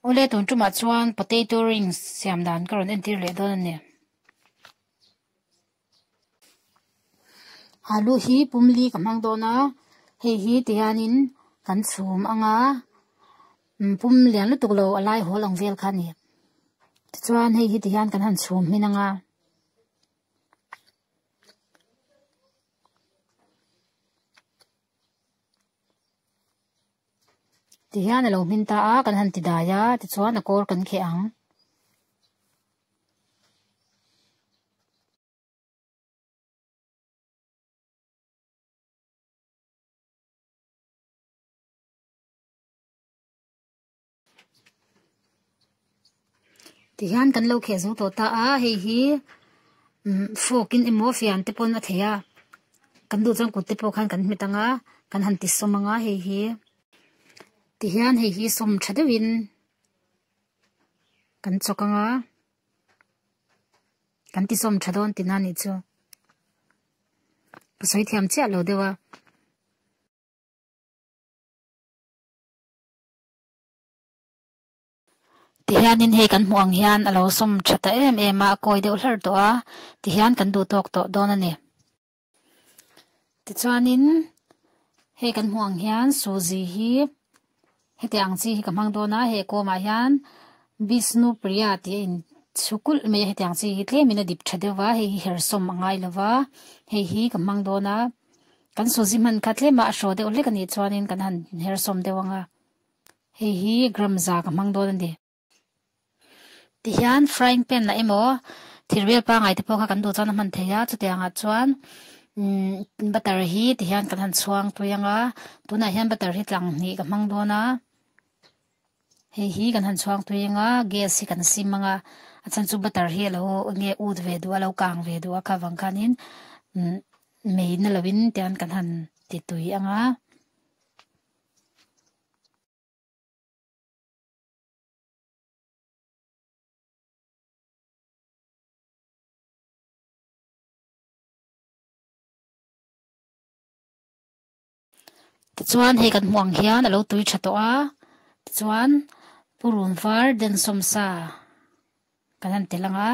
Ule tun chuma chuan potato rings siam dan ka rawn entir leh dawn ani. Alu hi pumli ka hmang dawn a, hei hi ti hianin kan chhum anga mm, pum lian lutuk lo alai hawl ang vel kha ni. Tichuan hei hi ti hian kan han chhum hmin anga. ti hian a lo hmin ta a kan han ti dai a tichuan a kawr kan kheh ang. ti hian kan lo kheh zo tawh ta a hei hi mm, fok in emaw fian te pawh a thei a kan du chuan kut te pawh khan kan hmet ang a kan han ti sawm ang a hei hi ti hian hei hi sawm tha deuh in kan chawk ang a kan ti sawm tha dawn tina ni chu pasoi thiam chiah lo deuh a Tihianin hei kan hmuh ang hian a lo sawm tha ta em em a, a kawi deuh hlar tawh a, tihian kan duh tawk tawh dawn a ni. Tichuanin hei kan hmuh ang hian Suzy hi hetiang ang chi hi ka hmang dawn a, hei a kawmah hian Bishnu Priya tih a in chhu kulh mai a, hetiang chi hi tlemin a dip tha deuh a, hei hi her sawm a ngai lo va, hei hi ka hmang dawn a. Kan sawzi hman kha tlema a hraw deuh hlek anih chuanin kan han her sawm deuh ang a, hei hi gram za ka hmang dawn ani. Ti hian frying pan lah emaw thir vel pangai te pawh kha kan duh chuan a hman thei a, chutiang ah chuan umm butter hi ti hian kan han chhuang pui ang a, tunah hian butter hi tlang hnih ka hmang dawn a. Hei hi kan han chhuang tui anga gas hi kan sim anga a chan chu butter hi alo nge ut ve du alo kang ve du a kha vang khanin mei na lovin tian kan han ti tui anga Tichuan hei kan hmuh ang hian a lo tui tha tawh a, tichuan purun var den sawmsa kan han tel ang a.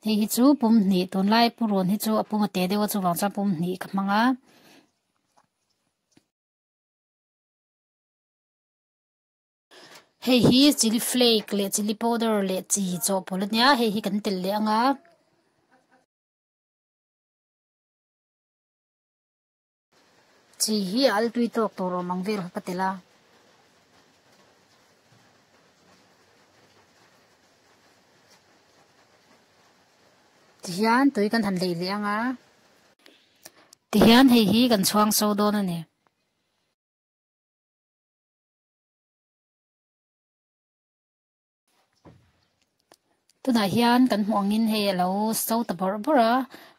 Hei hi chu pum hnih, tunlai purun hi chu a pum a teh deuh a chuvang chuan pum hnih ka hmang a. Hei hi chilli flake leh chilli powder leh chi chawhpawlh a nia, hei hi kan tel leh ang a. Chi hi a altui tawk tur awm ang vel ka ka ti la. Ti hian tui kan han lei leh ang a. Ti hian hei hi kan chhuang so dawn a ni. tunah hian kan hmuh angin hei a lo so ta bawr bawr a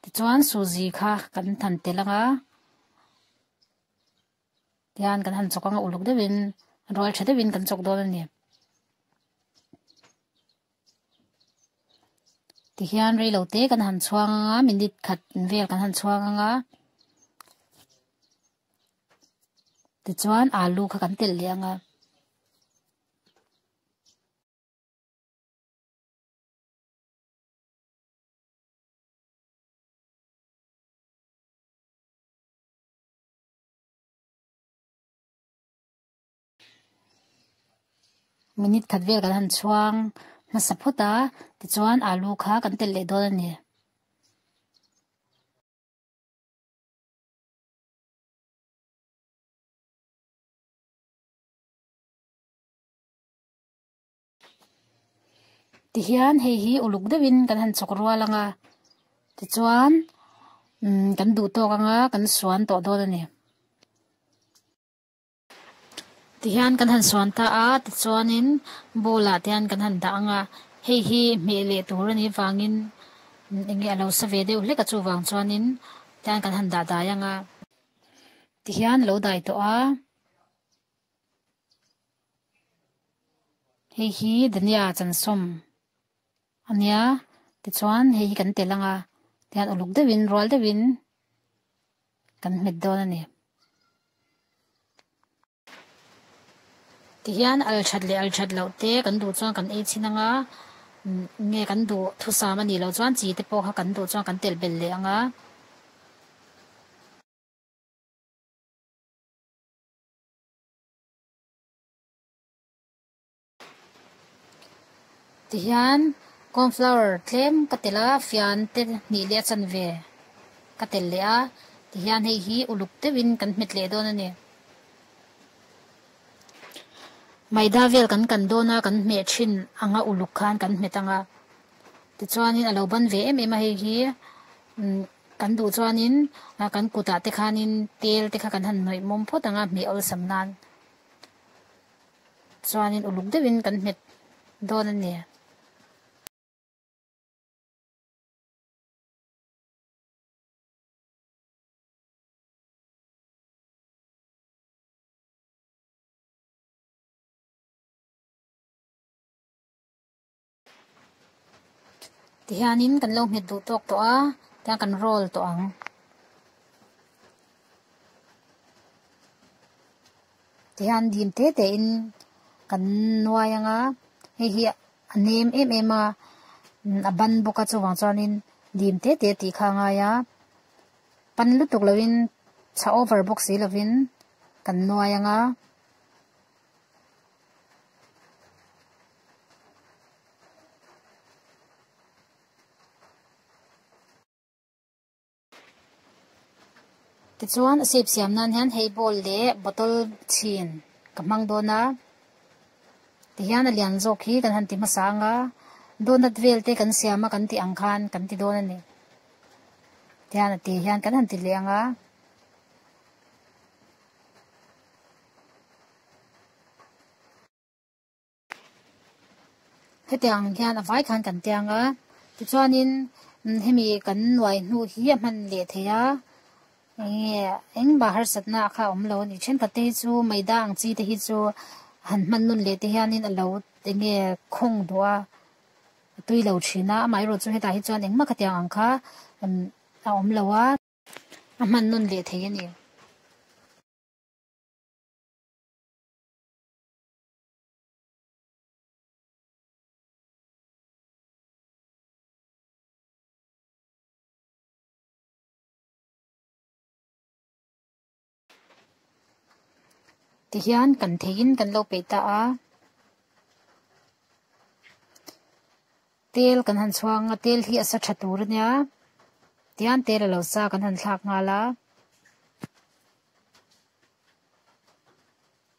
tichuan Suji kha kan han tel ang a tihian kan han chawk ang a uluk deuhin rual tha deuhin kan chawk dawn a ni tihian reilo te kan han chhuang ang a minute khat vel kan han chhuang ang a tichuan alu kha kan tel leh ang a minute khat vel kan han chhuang hmasa phawt a tichuan alu kha kan tel leh dawn a ni. Tihian hei hi uluk deuhin kan han chawk rual ang a, tichuan umm kan duh tawk ang a, kan suan tawh dawn a ni. Tihian kan han suan ta a, tichuanin bowl ah te hian kan han dah ang a, hei hi hmeh leh tur a nih vangin eng nge a lo sa ve deuh hlek a chuvang chuanin tihian kan han dahdai ang a. Tihian a lo dai tawh a. Hei hi Dania Chansawm a nia, tichuan hei hi kan tel anga tihian uluk deuhin rual deuhin kan hmet dawn a ni. Tihian althat leh althat loh te kan duh chuan kan ei chhin anga, nge kan duh thusam anih loh chuan chi te pawh kha kan duh chuan kan telh belh leh anga. Tihian corn flour tlem ka tel a fian te hnih leh a chanve ka tel leh a tihian hei hi uluk deuh in kan hmet leh dawn a ni maida vel kan kan dawn a kan hmeh thin ang a uluk khan kan hmet ang a tichuan in a lo ban ve em em a hei hi umm. Kan duh chuanin kan kutah te khanin tel te kha kan han hnawih mawm phawt ang a, hmeh awlsam nan chuanin uluk deuhin kan hmet dawn a ni. Tihianin kan lo nghet duh tawk tawh a, tiang kan roll tawh ang. Tihian dim te te in kan nuai ang a, hei hi a nem em em a, a ban bawk a chuvang chuanin dim te te tih kha ngai a. Pan lutuk lo in chha over bawk si lovin kan nuai ang a. Tichuan a sip siam nan hian hei bowl leh bottle chhin ka hmang dawn a ti hian a lian zawk hi kan han ti hmasa ang a donut vel te kan siam a kan tih ang khan kan ti dawn a ni ti hian a ti hian kan han ti leh ang a Heti ang hian a vai khan kan tia nga. Tichuanin hemi kan nuai hnu hi a hman leh thei a. Enge engmah harsatna kha awm lo anih. Thenkhat te hi chu Maida ang chi te hi chu han hman nun leh te hianin a lo enge khawng duh a. A tui lo thin a. Amaherawh chu hetah hi chuan engmah kha tiang ang kha a awm lo a. A hman nun leh thei a ni. ti hian kan theihin kan lo peih ta a tel kan han chhuang a tel hi a sa tha tur a nia tian tel a lo sa kan han thlak nghal a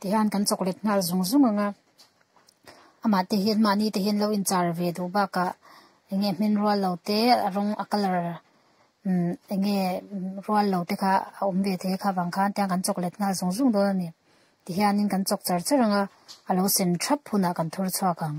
ti hian kan chocolate nghal zung zung anga amah te hian mahni te hian lo in char ve duh bak a enge hmin rual lo te a rawng a colour umm enge rual lo te kha a awm ve thei kha vang khan tiang kan chocolate nghal zung zung dawn a ni ti hian in kan chawk char char anga a lo sem thap hunah kan thur chhuak ang.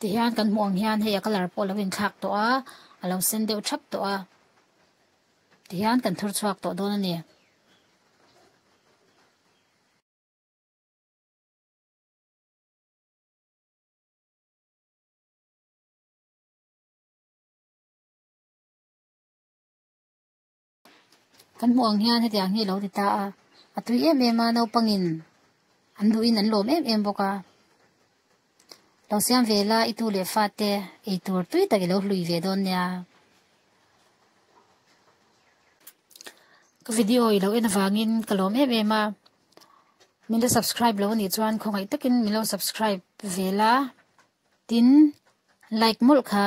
Tihian kan hmuh ang hian hei a colour pawh a lo inthlak tawh a, a lo sen deuh thap tawh a. Tihian kan thur chhuak tawh dawn a ni. Kan hmuh ang hian hetiang hi lo ti ta a, a tui em em a naupangin an luhin an lawm em em bawk a. Lo siam ve la i tu leh fa te ei tur tui tak i lo hlui ve dawn nia. Ka video i lo en avangin ka lawm em em a. Min lo subscribe lo nih chuan khawngaih takin min lo subscribe ve la. Tin like mawlh kha.